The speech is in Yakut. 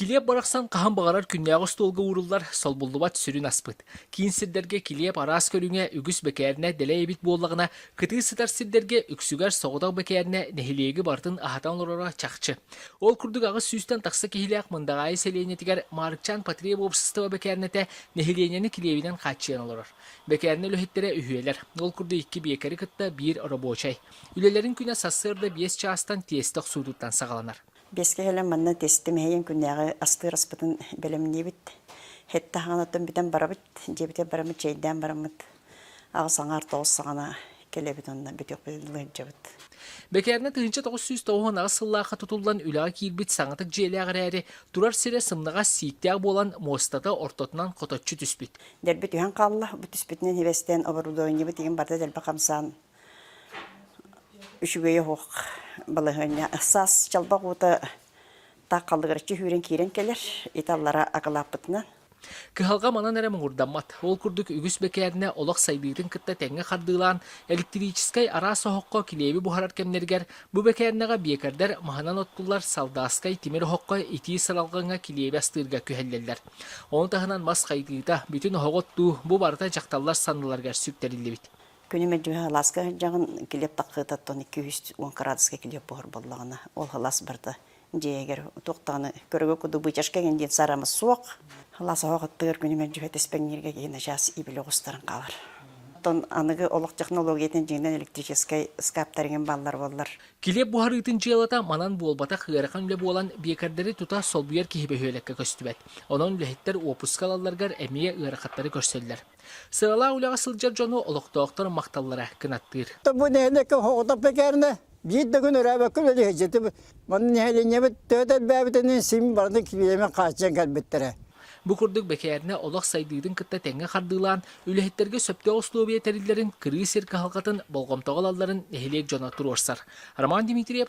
Килиэп барахсан хаһан баҕарар күннээҕи остуолга ууруллар, солбуллубат сүрүн аспыт. Киин сирдэргэ килиэп араас көрүҥэ үгүс бэкээринэ дэлэй эбит буоллаҕына, кытыы сытар сирдэргэ үксүгэр соҕотох бэкээринэ нэһилиэги барытын аһатан олороро чахчы. Ол курдук аҕыс сүүстэн тахса киһилээх Мындаҕаайы сэлиэнньэтигэр Маарыкчаан потреб уопсастыба бэкээринэтэ нэһилиэнньэни килиэбинэн хааччыйан олорор. Бэкээринэ үлэһиттэрэ үһүөлэр. Ол курдук икки биэкэри кытта биир рабочай. Үлэлэрин күнэ сарсыарда биэс чаастан тиэстэ охсуутуттан саҕаланар. Биэскэ кэлэн манна тестим эһэйин күннээҕи астыыр аспытын бэлэмниибит. Hettä хаанаттан бүтэн барабыт, дьиэбитигэр бараммыт, чэйдээн бараммыт. Аҕыс аҥаар тоҕус саҕана кэлэбит онно бүтүөхпүтүн ыалдьабыт. Бэкээрнэ тыһыынча тоҕус сүүс тоҕуһун аҕыс сыллаахха тутуллан үлэҕэ киирбит саҥатык дьиэлээх эрээри, турар сирэ сымнаҕас сииктээх буолан, муостата ортотунан хоточчу түспүт. Дэлби түһэн хаалла, бу түспүтүнэн сибэстээн оборудованиебыт игин барыта дэлби хамсаан Үчүгэйэ оһох балаһыанньа саас чалбах уута тааххаллыгыраччы сүүрэн киирэн кэлэр. Ити аллара акылааппытынан. Кыһалҕа манан эрэ муҥурдаммат. Ол курдук үгүс бэкээринэ олох сайдыытын кытта тэҥҥэ хардыылаан, электрическэй араас оһоххо килиэби буһарар кэмнэригэр бу бэкээринэҕэ биэкэрдэр маһынан оттуллар салдааскай тимир оһоххо итии сыралҕаҥҥа килиэби астыырга күһэллэллэр. Ону таһынан мас хайгыыта, бүтүн оһоҕу оттуу бу барыта дьахталлар санныларыгар сүктэриллибит. Күнү мэлдьи алааска сылдьаҕын, килиэп таккыытаттан икки-үс уон кыраадыска килиэп буһар буоллаҕына, ол алаас барда дьиэгэр туох даҕаны көрөгө курдук бычашка гин диэн сарамы суох. Алаас оһох аттыгар күнү мэлдьи тэспэҥнииргэ киһин ачаас иибилэ оҕустаран хаалар. Оттон аныгы олох технологиятын дьиҥинэн электрическэй скаптарыгын баллар буоллар. Килиэп буһарыытын дьыалата манан буолбатах ыарахан үлэ буолан, биэкэрдэри тута солбуйар киһи бөһүөлэккэ көстүбэт. Онон үлэһиттэр уоппуска ылалларгар эмиэ ыарахаттары көрсөллөр. Сыалаа үлэҕэ сылдьар дьону олохтоохтор махталлара кынаттыыр. Бу нэһилиэккэ оһоҕотох бэкээринэ биир да күн өрөөбөккө үлэлэһиэччитим. Манна нэһилиэнньэбит төт элбээбитинэн син барытын килиэмэ хааччыйан кэлбиттэрэ. Бу курдук бэкээринэ олох сайдыытын кытта тэҥҥэ хардыылаан, үлэһиттэргэ сөптөөх условия тэриллэрин, кырыы сир кыһалҕатын болҕомтоҕо ылалларын нэһилиэк дьоно туруорсар. Роман Дмитриев